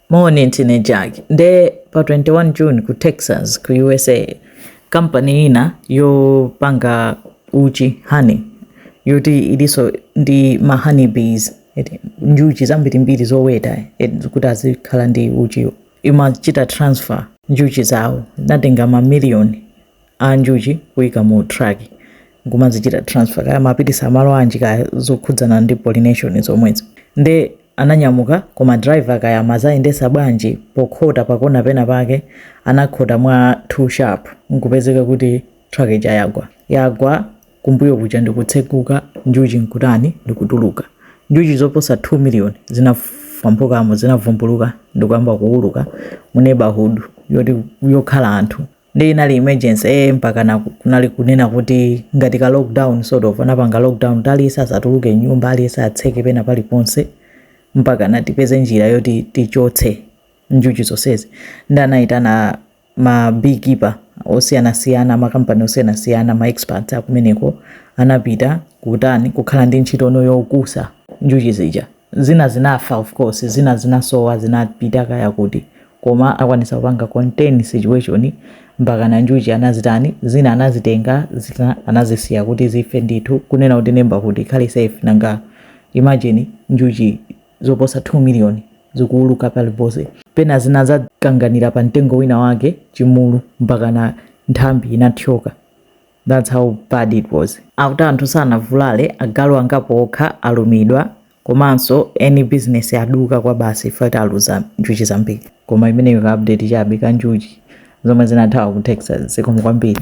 Moni ndine Jack. Nde pa 21 June ku Texas ku USA kampani ina yopanga uchi honey yoti iliso ndi ma honey bees eti njuchi zambirimbiri zoweta eti kuti azikhala ndi uchiwo imachita transfer njuchi zawo inatenga mamiliyoni a njuchi kuika mu truck nkumazichita transfer kaya amapitisa malo anji kaya zokhudzana ndi pollination zomwezo nde ananyamuka koma driver kaya amazayendesa bwanji pokhota pakona pena pake anakhota mwa too sharp nkupezeka kuti truck ija yagwa yagwa kumbuyo kuja ndikutsekuka njuchi nkutani ndikutuluka njuchi zoposa 2 million zinafwamphukamo zinavumbuluka ndikuyamba kuuluka mu neighborhood yoti yokhala anthu nde inali emergency eh mpakana ku- kunali kunena kuti ngati ka lockdown sort of anapanga lockdown kuti aliyense asatuluke nyumba aliyense atseke pena paliponse mpakana tipeze njira yoti tichotse njuchi zonsezi nde anayitana ma beekeeper osiyanasiyana makampani osiyanasiyana ma experts akumeneko anapita kutani kukhala ndi ntchito yokusa njuchi zija zina zinafa of course zina zinasowa zinapita kaya kuti koma akwanisa kupanga contain situation mpakana njuchi anazitani zina anazitenga zina anazisiya kuti zife ndithu kunena kuti neighborhood ikhale safe nanga imagine njuchi zoposa 2 million zikuuluka paliponse pena zina zakanganira pa mtengo wina wake chimulu mpakana nthambi inathyoka. That's how bad it was. Akuti anthu sanavulale, agalu angapo okha alumidwa komanso eni business aduka kwabasi chifukwa kuti aluza njuchi zambiri. Koma imeneyo ka update chabe ka njuchi zomwe zinathawa ku Texas zikomo kwambiri.